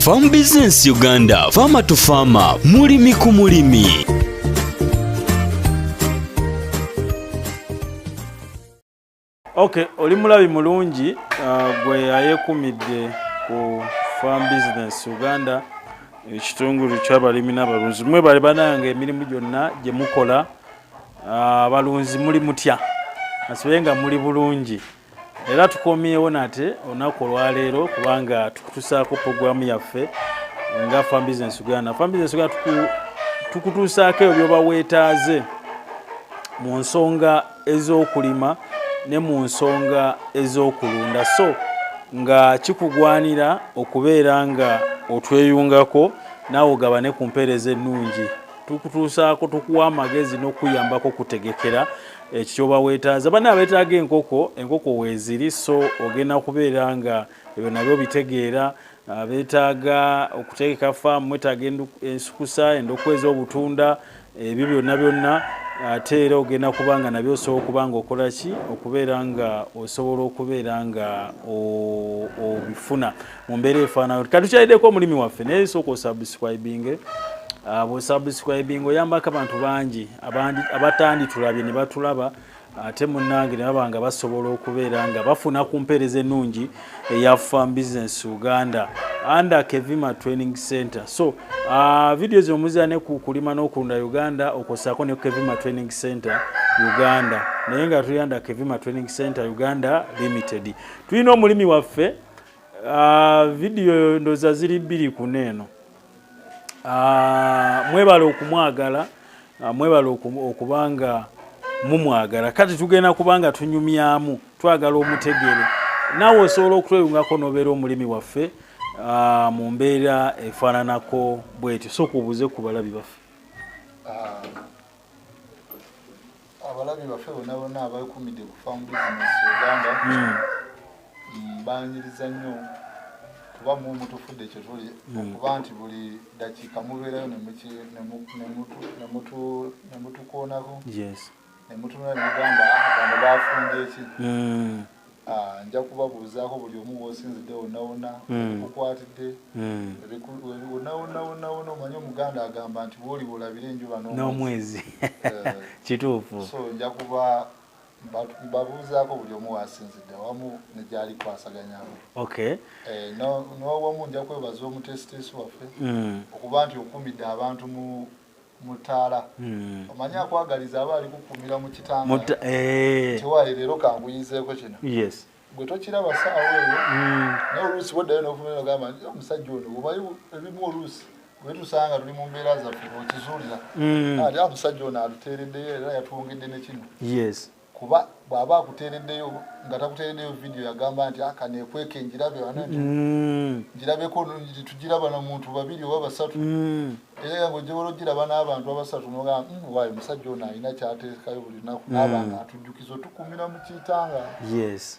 Farm Business Uganda, Farmer to Farmer, mulimi ku mulimi. Okay, oli mulabi mulungi uh, gwe ayekumidde ku Farm Business Uganda ekitongole ky'abalimi n'abalunzi mwe bali bananga emirimu gyonna gye mukola uh, abalunzi muli mutya asibe nga muli bulungi era tukomyewo nate olunaku olwaleero kubanga tukutusaako puroguramu yaffe nga fam business uganda fam business uganda tukutuusaako ebyo byoba weetaaze mu nsonga ez'okulima ne mu nsonga ez'okulunda so nga kikugwanira okubeera nga otweyungako naawe ogabane ku mpeereza ennungi tukutuusaako tukuwa amagezi n'okuyambako okutegekera ekyo kyoba wetaaza bana abetaaga enkoko enkoko weeziri so ogenda kubeera nga ebyo nabyo bitegeera ah, betaaga okuteeka faamu mwetaaga ensukusa endokwa ez'obutunda ebyo byonna byonna ate era ogenda kuba nga nabyo osobola okuba nga okola ki okubeera nga osobola okubeera nga obifuna mu mbeera efaanayo kati tukyaliddeko omulimi waffe naye sooka osubscribinge ah, bwosubscribinga oyambako abantu bangi abatanditulabye ne batulaba ate munnange ne baba nga basobola okubeera nga bafuna ku mpeereza ennungi eya farm business uganda under kevima training center so ah, vidiyo zino muzira ne ku kulima n'okulunda uganda okosaako ne kevima training center uganda naye nga tuyanda kevima training center uganda limited tulina omulimi waffe Ah, vidiyo ndoza ziri bbiri kuna eno ah, mwebale okumwagala ah, mwebale okubanga mumwagala kati tugenda kubanga tunyumyamu twagala omutegere naawe osobola okutweyungako nobeera omulimi waffe mu mbeera efaananako bwetyo soka obuze ku balabi baffe abalabi baffe bona bona abakumidde ku farm business uganda hmm. mm, banyiriza nnyo kuba mu mutufudde kyetuli hmm. kuba nti buli dakiika mubeerayo nemutukoonako nemutunula nemugamba ah, bano bafumbye ki hmm. Ah, nja kubabuuzaako buli omu wosinzidde wonawona hmm. kukwatidde hmm. wonawonawonawona omanyi omuganda agamba nti wooli wolabira enjuba n'omwezi eh. kituufu so nja kuba babuuzaako buli omu wasinzidde awamu negyali kwasaganyako eh, n'owamu nja kwebaza omutesiteesi waffe hmm. okuba nti okumidde abantu mu mutaala hmm. omanyi akwagaliza aba ali kukumira mu kitanga eh. tiwaali leero kanguyizeeko kino gwe tokiraba saawa eyo hmm. naye oluusi bwoddayo nokumira ogamba nti omusajja ono omanyi ebimu oluusi wetusanga tuli mu mbeera zaffe okizuulira hmm. ati omusajja ono atuteereddeyo era yatwongedde ne kino kuba bwaba akutereddeyo nga takutereddeyo vidiyo yagamba nti aka ah, nekweka enjirabe wano nti mm. njirabeko nti tugiraba na muntu babiri oba basatu mm. era nga ojjobala ogiraba n'abantu abasatu nogamba mm, waayo omusajja ono alina kyateekayo buli lunaku n'abanga atujjukiza otukumira mu kitanga yes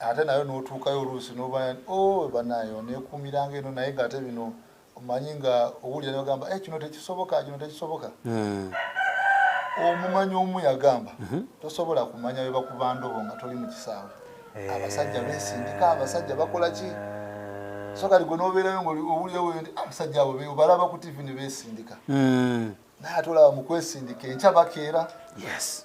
ate nayo notuukayo oluusi noba o oh, banayo nekuumiranga eno naye nga ate bino omanyi nga owulira nogamba e eh, kino tekisoboka kino tekisoboka hmm. omumanyi omu yagamba mhm. tosobola kumanya webakuba ndobo nga toli mu kisaawe eh. abasajja besindika abasajja bakola ki so kati gwe nobeerayo ngaowulirawo nti ah, abasajja abo balaba ku tivi ne besindika hmm. naye ate olaba mukwesindika enkya bakeera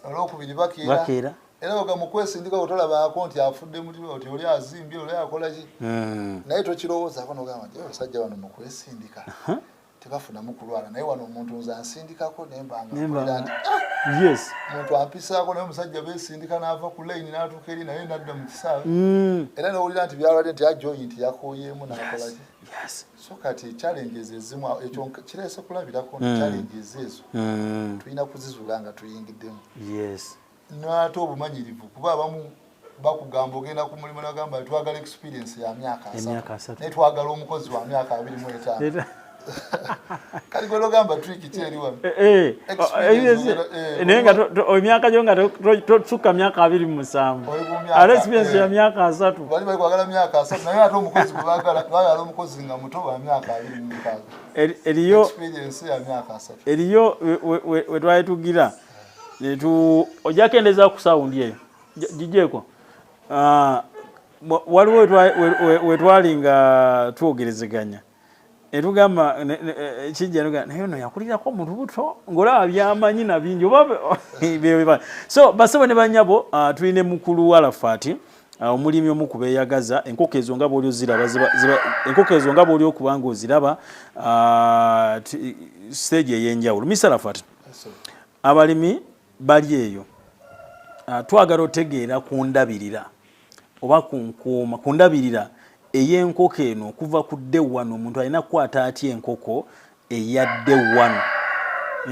olwokubiri bakeera era oga mukwesindika otolabaako nti afudde muti oli azimbye oli akolaki hmm. naye tokirowoozako nogamba nti abasajja bano mukwesindika tebafunamu kulwala naye wano omuntu nze ansindikako nembangaomuntu ah! ampisaako naye omusajja besindika naava ku layini natuuka eri naye nadda mu kisaawe hmm. era nowulira nti byalwadde nti ajoyi nti yakoyeemu nakolaki so kati challenges ezimu ekyo kireese kulabirako mm. challenges ezo mm. tulina kuzizula nga tuyingiddemu yes naate obumanyirivu kuba abamu bakugamba ogenda ku mulimu nagamba twagala experience ya myaka asatu naye twagala omukozi wa myaka abiri mu etaano kati gwe nogamba Eh, eh, naye nga emyaka gyo nga tosukka myaka abiri mu musanvu ate experience ya myaka asatu eriyo wetwali tugira ojakendeza ku sawundi eyo gijeeko ah, waliwo wetwali nga twogerezeganya etugamba kijja etugamba naye ono yakulirako mu lubuto ng'olaba byamanyi na bingi oba so basebo ne banyabo ah, tulina mukulu walafaati ah, omulimi omu ku beeyagaza enkoko ezo nga bwoli oziraba enkoko ezo nga bwoli okuba nga oziraba ah, siteegi ey'enjawulo misa lafaati abalimi bali eyo twagala otegeera ku ndabirira oba ku nkuuma ku ndabirira ey'enkoko eno okuva ku dde wano omuntu alina kukwata atya enkoko eya dde wano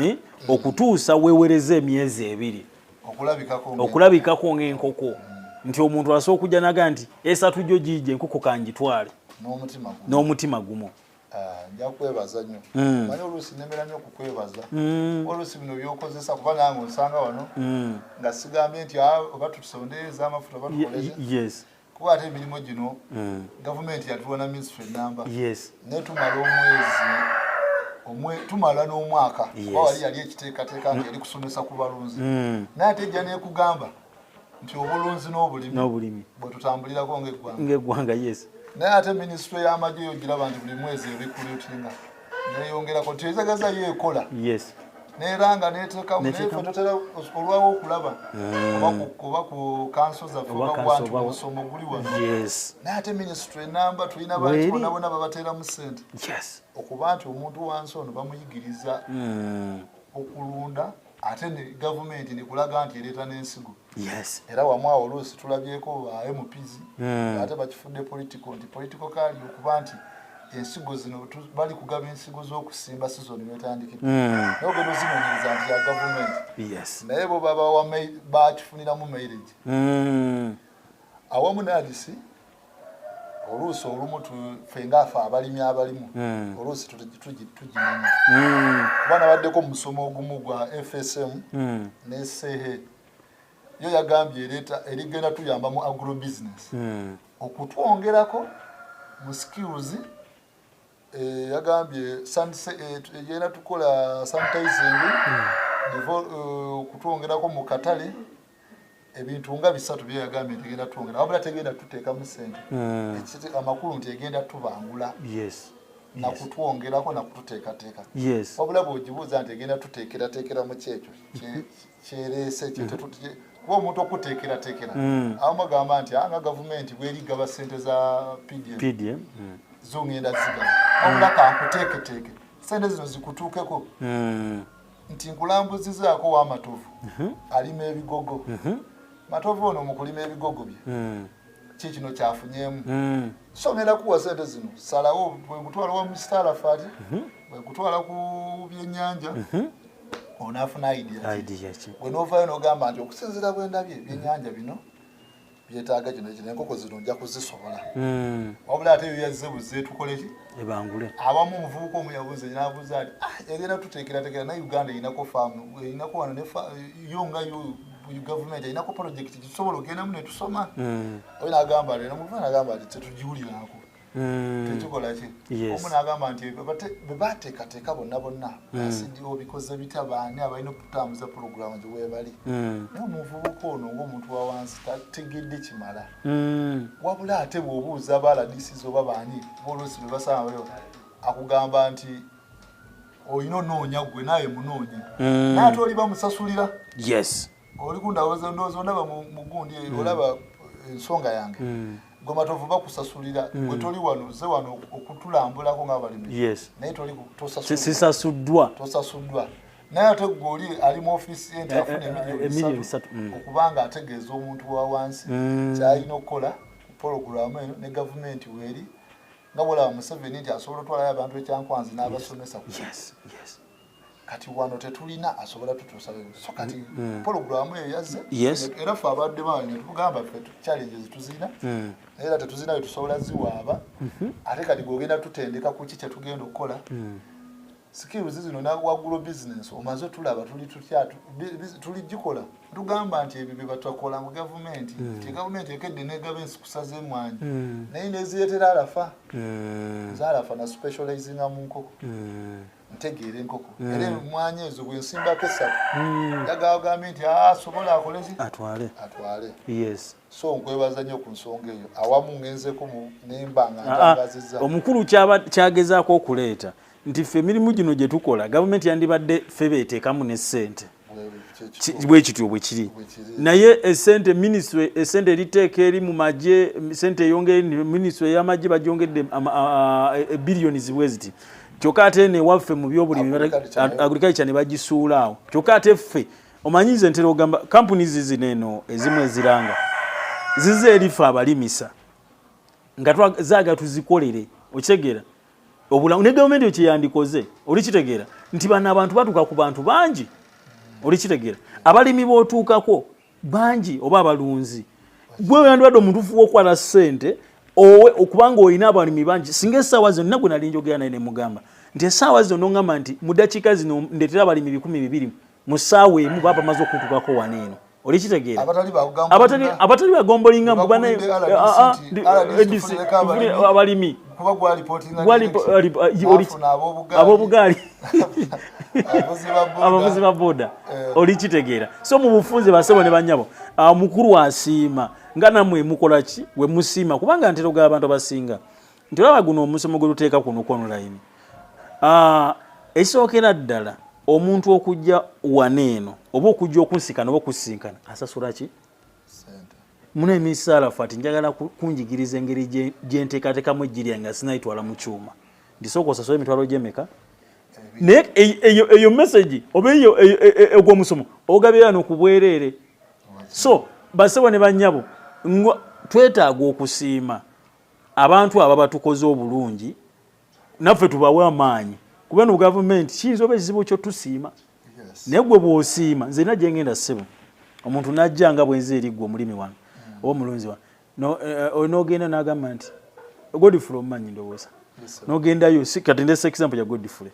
eh? okutuusa wewereza emyezi ebiri okulabikako ng'enkoko nti omuntu asobola okujja naga nti esatu gyo giija enkoko kangitwale n'omutima gumu Ah, nja kwebaza nyo hmm. manyi oluusi nemera nyo okukwebaza hmm. oluusi bino byokozesa kuba nange onsanga wano hmm. nga sigambye nti ah, oba tutusondeeza amafuta oba tukoleze kuba ate emirimu gino gavumenti yatuwa na minisitry enamba naye tumala omwezi tumala n'omwaka oba wali yali ekiteekateeka nga eri kusomesa ku balunzi naye ate ejja nekugamba nti obulunzi n'obulimi n'obulimi bwe tutambulirako ng'eggwanga ng'eggwanga yes naye ate minisitule y'amagye yo giraba nti buli mwezi ebikulutinga neyongerako nti ezagaza yo ekola yes neera nga neteekamu naye fe totera olwawo okulaba hmm. oba ku kanso zaffe obawanti omusomo guli wano naye ate minisitule enamba tulina bantu bona bona babateeramu sente okuba nti omuntu wansi ono bamuyigiriza hmm. okulunda ate ne gavumenti nekulaga nti ereeta n'ensigo yes. era wamu awo oluusi tulabyeko ba mps mm. ate bakifudde political nti political kali okuba nti ensigo zino bali kugaba ensigo z'okusimba sizoni wetandikira mm. nogenda ozinonyereza nti ya gavumenti yes. naye bo babawa bakifuniramu mairage mm. awamu nagisi oluusi olumu fe ngaafe abalimi abalimu hmm. oluusi tugimanya hmm. kuba nabaddeko musomo ogumu gwa fsm hmm. ne sehe yo yagambye ereeta erigenda tuyamba mu agro business okutwongerako mu skills Eh, yagambye eh, yena tukola sanitizing hmm. eh, okutwongerako mu katale ebintu nga bisatu byeyagambye nti egenda twongera wabula tegenda tuteekamu sente hmm. amakulu nti egenda tubangula nakutwongerako nakututeekateeka wabula bwogibuuza nti egenda tuteekerateekera mu kyekyo kyerese kyo mm. kuba omuntu okuteekerateekera mm. abamu bagamba nti anga ah, gavumenti bweri gaba sente za pdm mm. zongenda zigaba wabula kankuteeketeeke sente zino zikutuukeko nti nkulambuzizaako wamatovu mm-hmm. alima ebigogo mm-hmm. matovu ono mukulima ebigogo bye kikino kyafunyemu mm. somera kuwa sente zino salawo bwekutwala wa mustara fati mhm. bwekutwala ku byenyanja mhm. onafuna idiyaki wenovayo nogamba nti okusinzira bwendabye byenyanja bino byetaaga kino kino enkoko zino nja kuzisobola mm. wabula ate yoyazze buzze tukoleki ebangule abamu omuvubuka omu yabuze nabuza ati ah, egenda tuteekerateekera naye uganda erinako faamu erinako wano yo nga yo buli gavumenti alinako polojekiti tusobola ogendamu netusoma mm. oyo nagamba lero muva nagamba nti tetugiwulirako mm. tekikola ki omu nagamba nti bebateekateeka bonna bonna asidio mm. bikoze bita baani abalina okutambuza pulogulaamu gye webali naye omuvubuka ono ngaomuntu wa wansi tategedde kimala wabula ate bwobuuza baaladisiza oba baani bolosi bebasanga akugamba nti olina onoonya gwe naawe munoonya mm. naye ate oli bamusasulira yes oli kundawoza ndowooza ondaba mu gundi mm. olaba ensonga yange mm. gwe matovu bakusasulira gwe toli wano ze wano okutulambulako ngaabalimi naye tolisasasuddwa tosasuddwa naye ate gwe oli ali mu ofiisi enti eh, afuna eh, eh, emiliyoni bisatu okuba nga ategeeza omuntu wa wansi kyalina okukola pologulamu eno ne gavumenti weeri nga bwolaba museveni nti asobola otwalayo abantu ekyankwanzi n'abasomesa ku kati wano tetulina asobola tutuusaso kati mm, mm. pologulamu eyo yazze era fe abadde bange tugamba fe challenge zetuzina mm. era tetuzina wetusobola ziwaaba mm-hmm. ate kati gogenda tutendeka kuki kyetugenda okukola skills zino nawagulo business omaze tulaba tuli tutya tuli gikola tugamba nti ebyo bye batakola mu government mm. ti government ekedde ne government kusaze mwanyi mm. naye neziretera alafa mm. zalafa na specializing mu nkoko mm. ntegeere enkoko mm. era emwanyi ezo bwensimbako esatu mm. yagagambe nti asobola ah, akolezi atwale atwale yes so nkwebaza nnyo ku nsonga eyo awamu ngenzeko nemba nga ntangaziza ah, ah, omukulu kyagezaako okuleeta nti ffe emirimu gino gye tukola gavumenti yandibadde ffe beeteekamu ne ssente bwekityo bwekiri naye esente ministry esente eriteeka eri mu magye sente eyongere ministry eyamagye bagyongedde ebiliyoni zibwe ziti kyokka ate newaffe mu byobulimi agriculture ne bagisuulaawo kyokka ate ffe omanyi nze ntera ogamba kampuni zizino eno ezimu eziranga zize erifa abalimisa nga zaga tuzikolere okitegeera obulamu ne gavumenti ekyeyandikoze olikitegeera nti bano abantu batuuka ku bantu bangi olikitegeera abalimi bootuukako bangi oba abalunzi gwe oyandibadde omutuufu wokukwata ssente owe okubanga olina abalimi bangi singa esaawa zino nagwe nali njogera naye nemugamba nti esaawa zino nongamba nti mudakiika zino ndetera abalimi bikumi bibiri mu ssaawa emu baba bamaze okutukako wano eno olikitegeera abatali bagombolinga mbu banabalimi abobugaali abavuzi ba boda eh. olikitegeera so mu bufunze basebo ne banyabo ah, mukulu asiima nga namwe mukolaki wemusiima kubanga ntero ga abantu abasinga nti olaba guno omusomo gwe tuteeka kuno ku online ah, ekisookera ddala omuntu okujja wana eno oba okujja okunsikana oba okusinkana asasula ki muna emisaala fati njagala kunjigiriza engeri gyenteekateekamu ejjiri yange nga sinayitwala mu kyuma ndisooka osasula emitwalo gyemeka naye e-, e-, eyo mesagi oba eyo e-, ogwomusomo ogabyewa nokubwereere so basebo ne banyabo twetaaga okusiima abantu aba batukoze obulungi naffe tubawe amaanyi kuba no gavumenti kiyinza oba ekizibu kyo tusiima naye gwe bwosiima nze na gyengenda ssebo omuntu najja nga bwenzi eri gwe omulimi wange mm. oba omulunzi wange eh, eh, nogenda nagamba nti godfrey omumanyi ndowooza nogendayo kati ndesa example ya godfrey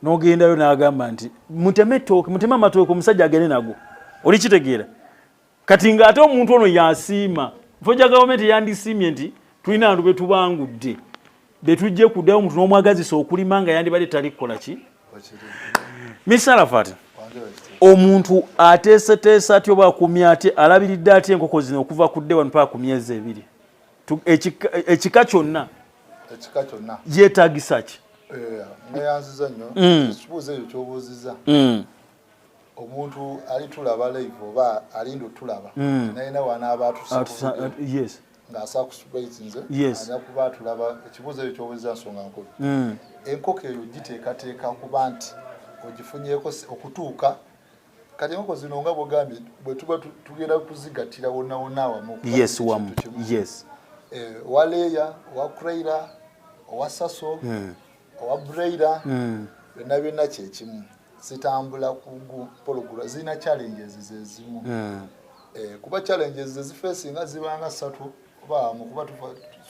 nogendayo nagamba nti muteme tooke muteme amatooke omusajja agende nago olikitegeera kati ng'ate omuntu ono yasiima foja gavumenti eyandisiimye nti tulina bantu betubangudde betujje kuddayo omuntu n'omwagazisa okulima nga yandibadde tali kukola ki misalafat omuntu ateeseteesa atya oba akumya atya alabiridde atya enkoko zino okuva ku dde wanupaa ku myezi ebiri ekika kyonna yeetagisa ki eh, neyanziza nnyo mm. ekibuuzo ekyo kyobuuziza mm. omuntu ali tulaba live oba alinda otulaba hmm. naye nawe anaaba atusaes ng'asa ku sprite nze aja kuba atulaba ekibuuzo ekyo kyobuza nsonga nkulu hmm. enkoko eyo giteekateeka kuba nti ogifunyeko okutuuka kati enkoko zino nga bwogambye bwe tuba tugenda kuzigattira wonna wonna awamu yes wamu yes eh, waleeya owa kraira owa saso hmm. owa braida mm. byonna byonna kyekimu sitambula kugu pologula zirina challenges zezimu mm. eh, kuba challenges zezifesinga zibanga satu oba mukuba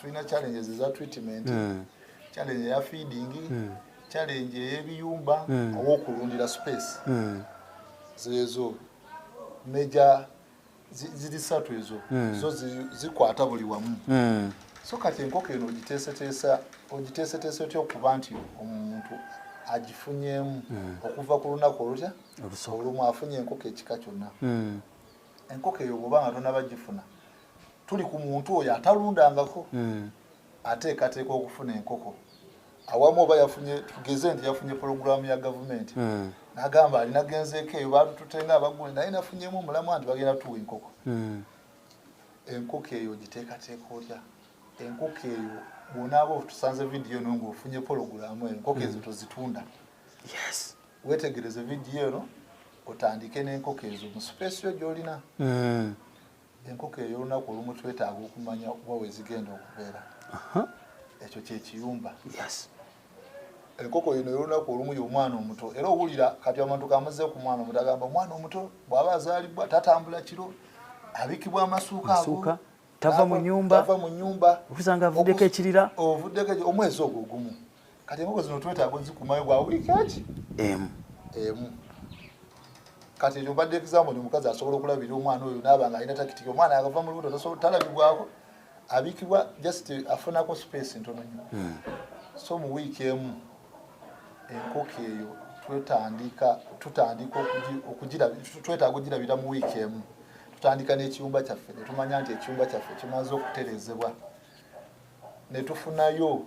tulina challenges eza treatment mm. challenge eya feeding mm. challenge eyebiyumba mm. owokulundira space mm. zezo major ziri satu ezo hmm. zo zikwata buli wamu hmm. so kati enkoko eno ogiteeseteesa ogiteeseteesa otya okuba nti omuntu agifunyemu hmm. okuva ku lunaku olutya olumu afunye enkoko ekika kyonna enkoko eyo bwoba nga tonaba gifuna tuli ku muntu oyo atalundangako ateekateeka okufuna enkoko awamu oba yafunye tugeze nti yafunye pologulaamu ya gavumenti hmm. nagamba alina genzeeko eyo batututenga abagundi naye nafunyemu omulamu nti bagenda tuwa enkoko hmm. enkoko eyo ogiteekateeka otya enkoko eyo bwonaaba otusanze vidiyo eno ngaofunye pologulaamu eyo enkoko ezo hmm. tozitunda wetegereze vidiyo eno otandike n'enkoko ezo mu sipeesiyo gyolina enkoko ey'olunaku olumu twetaaga okumanya okuba wezigenda okubeera ekyo kyekiyumba enkoko yino ey'olunaku olumu y'omwana omuto era owulira kati omuntu kamuze ku mwana omuto agamba omwana omuto bw'aba azaalibwa tatambula kiro abikibwa amasuuka ago tava mu nyumba okusanga avuddeko ekirira ovuddeko omwezi ogwo gumu kati enkoko zino twetaaga ozikumayo gwa wiiki eki emu emu kati ekyo mbadde example ni omukazi asobola okulabira omwana oyo naaba nga alina takitiki omwana agava mu lubuto talabibwako abikibwa just afunako space ntono nyo hmm. so mu wiiki emu enkoko eyo twetandika tutandika twetaaga ogirabira mu wiiki emu tutandika n'ekiyumba kyaffe netumanya nti ekiyumba kyaffe kimaze okuterezebwa netufunayo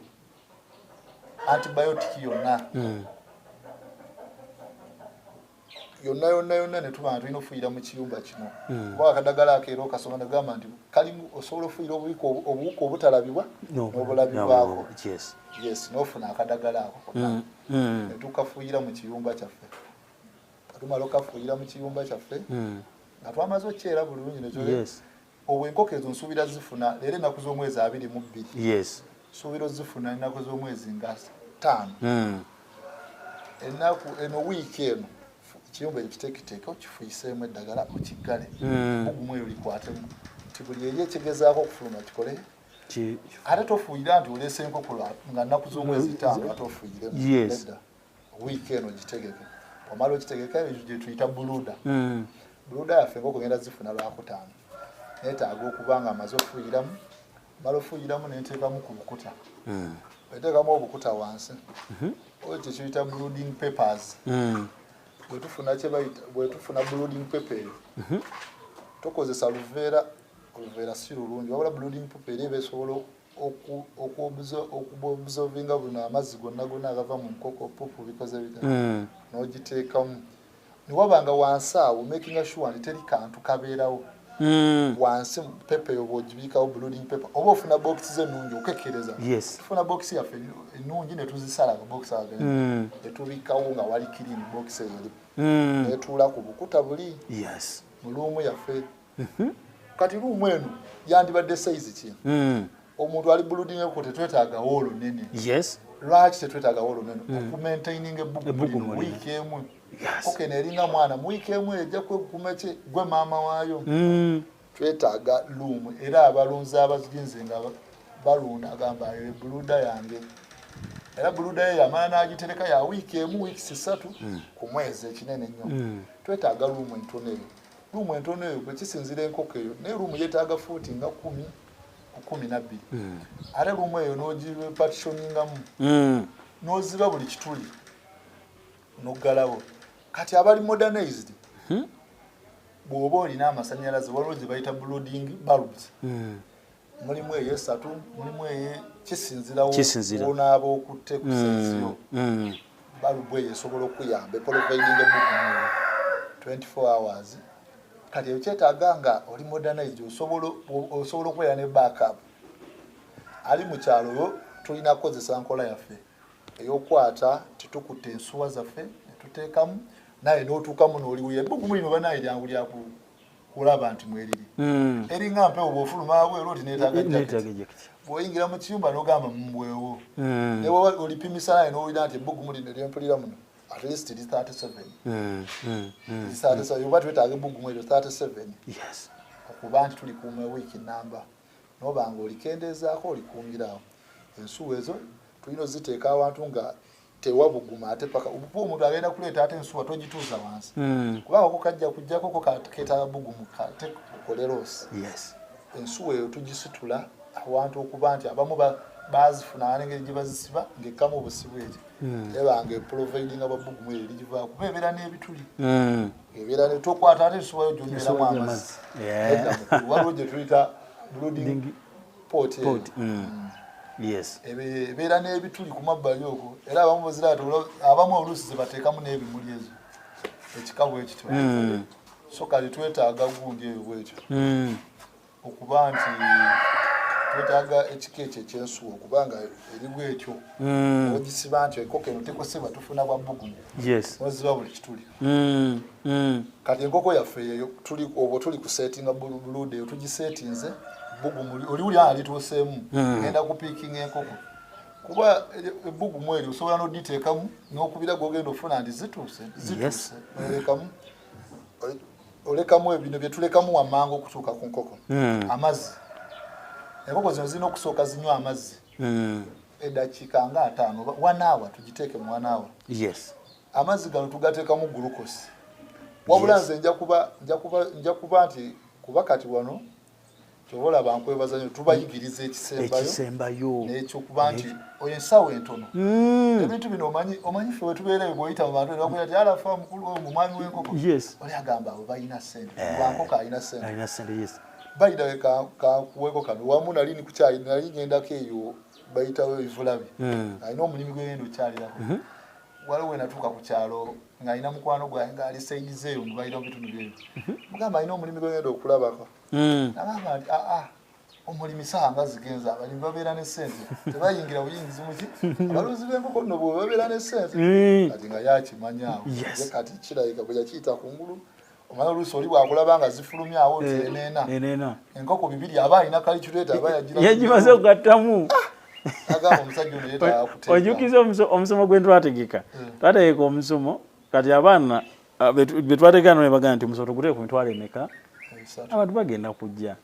antibiotic yonna hmm. yonna yonna yonna netuba nga tulina ofuyira mu kiyumba kino hmm. oba akadagala akeera okasoma nagamba nti kalimu osobola ofuyira obuwuka obuwuka obutalabibwa n'obulabibwako yes nofuna akadagala ako hmm. hmm. netukafuyira mu kiyumba kyaffe katumala okafuyira mu kiyumba kyaffe nga twamaze okyera bulungi nekyo obwo enkoko ezo nsuubira zifuna leero ennaku z'omwezi abiri mu bbiri yes nsuubira ozifuna ennaku z'omwezi nga ttaano hmm. ennaku eno wiiki eno kiyumba ekitekiteeke okifuyiseemu eddagala mukiggale hmm. ogumu eyo likwatemu nti buli eri ekigezaako okufuluma kikole ate tofuuyira nti oleese enkoko nga nnaku z'omwezi ttaano ate ofuuyiremu wiiki eno gitegeke omala okitegeka gyetuyita buluda hmm. buluda yaffe nga okugenda zifuna lwakutaano netaaga okuba nga amaze okufuyiramu mala ofuyiramu nenteekamu ku bukuta hmm. eteekamu obukuta wansi mhm. oyo kyekiyita blooding papers hmm. bwetufuna kyebayita bwetufuna blooding paper eyo mhm. tukozesa luveera oluveera si lulungi wabula blooding paper eri ebesobola okuobsovinga buno amazzi gonna gonna agava mu nkoko pupu bikoze bita hmm. nogiteekamu newaba nga wansi awo makinga sure nti teri kantu kabeerawo Mm. wansi pepa eyo bwogibiikawo blooding paper oba ofuna bokisi ze ennungi okekereza tufuna bokisi yaffe ennungi netuzisala bokisi age mm. netubikawo nga wali kirini bokisi eyo mm. netuula ku bukuta buli mu luumu yaffe mhm. kati luumu eno yandibadde sayizi ki hmm. omuntu ali buludingeko tetwetagawo olunene lwaki tetwetagawo olunene hmm. okumaintaininga ebbugumu wiiki emu oke neringa mwana muwiiki emu ejja kwegukuma ki gwe maama waayo hmm. twetaaga luumu era abalunzi abazinze nga balunda agamba ere buluda yange era buluda ye yamala n'agitereka ya wiiki emu wiiki sisatu ku mwezi ekinene nnyo twetaaga luumu entono eyo luumu entono eyo kwekisinzira enkoko eyo naye luumu yetaaga fuuti nga kumi ku kumi nabbiri hmm. ate luumu eyo nogipatishoningamu hmm. noziba buli kituli noggalawo kati abali modernized hmm? bwoba olina amasanyalaze waliwo gyebayita blooding bulbs mulimu eyo esatu mulimu eye kisinzirawo onaaba okutte ku sensio mm, mm. balubu eyo esobola okuyamba epolovaidinga mugumu 24 hours kati eyo kyetaaga nga oli modernized osobola okubeera ne backup ali mu kyalo yo tulina kukozesa nkola yaffe eyokwata tetukutte ensuwa zaffe netuteekamu naye notuukamu noliwuya ebugumu lino banaye lyangu lyaku kulaba nti mweriri mm. eringa mpewo bwofuluma abweru oti netaga jaketi bwoyingira mu kiyumba nogamba mumwewo mm. newa olipimisa naye nowulira nti ebbugumu lino lyempulira muno at least li 37 mm, mm, mm, li 37 mm. oba twetaaga ebbugumu eryo 37 yes. okuba nti tulikuuma wiiki namba nobanga olikendeezaako olikuumirawo ensuwa ezo tulina oziteeka awantu nga tewabuguma ate paka obupu omuntu agenda kuleeta ate ensuwa togituuza wansi hmm. kuba ako kajja kujjako ko keetala bugumu kate okolerosi ensuwa eyo tugisitula awantu okuba nti abamu bazifuna nengeri gye bazisiba ng'ekkamu obusibu ekyo hmm. eba nga eprovidinga babugumu eyo ligivaa kuba ebeera n'ebituli hmm. ebeera tokwata ate ensuwayo gyonyweramu amazzi waliwo gye tuyita blooding poti poti mm. yes ebeera n'ebituli ku mabbali okwo era abamu baziraata abamu oluusi zebateekamu n'ebimuli ezo ekikabu ekityo mm. so kati twetaaga gundi eyo bwekyo mm. okuba nti twetaaga ekika ekyo ekyensuwa okuba nga eri bwekyo mm. ogisiba nti ekoko eno tekosebwa tufuna bwa bbugumu oziba buli kituli mm, mm. kati enkoko yaffe eyo tuli obwo tuli ku settinga bulude eyo tugisetinze bugumuli oli uli alituuseemu mm. ngenda kupiikinga enkoko kuba ebbugumu eryo osobola noditeekamu nokubira gogenda ofuna ndi zituuse zituuse olekamu olekamu ebino byetulekamu wamangu okutuuka ku nkoko hmm. amazzi enkoko zino zirina okusooka zinywa amazzi hmm. edakiika nga ataano wanaawa tugiteeke mu wanaawa yes amazzi gano tugateekamu gulukosi wabula nze nja kuba nti kuba kati wano kyoba olaba nkwebaza nyo tubayigiriza ekisembayo nekyokuba nti oyo ensawo entono hmm. ebintu bino omanyi omanyi fe wetubeereyo bwoyita mubantu nebakuya ti alafa mukulu oyo mumwami wenkoko oli agamba abo balina sente eh. wankoko alina sente bayidawe kankuweko kano wamu nali nikukyayi nali ngendako eyo bayitawo ebivulabi hmm. alina omulimu gweyenda okyalirako hmm. waliwo wenatuuka ku kyalo ng'alina mukwano gwange ng'ali saidi zeeyo mu balina mu bitundu byeyo mhm. mugamba alina omulimi gwegenda okulabako hmm. nagamba nti aa ah, ah, omulimi saa nga zigenza abalimi babeera ne sente tebayingira buyingizi muki abalunzi b'enkoko nno bwe babeera ne sente hmm. kati nga yakimanyaawo kati kirabika bwe yakiyita ku ngulu omala oluusi oli bwakulaba nga zifulumya awo nti eh, eneena eneena enkoko bibiri aba alina kaliculeeta aba yagira yagimaze okugattamu ah! ojukiza omusomo gwe ntwategeka eh. twategeka omusomo kati abaana ah, betwategeka no nebagaa nti omusomo tuguteeka ku mitwalo emeka abantu bagenda kujja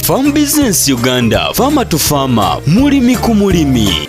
Farm Business Uganda, Farmer to Farmer, mulimi ku mulimi.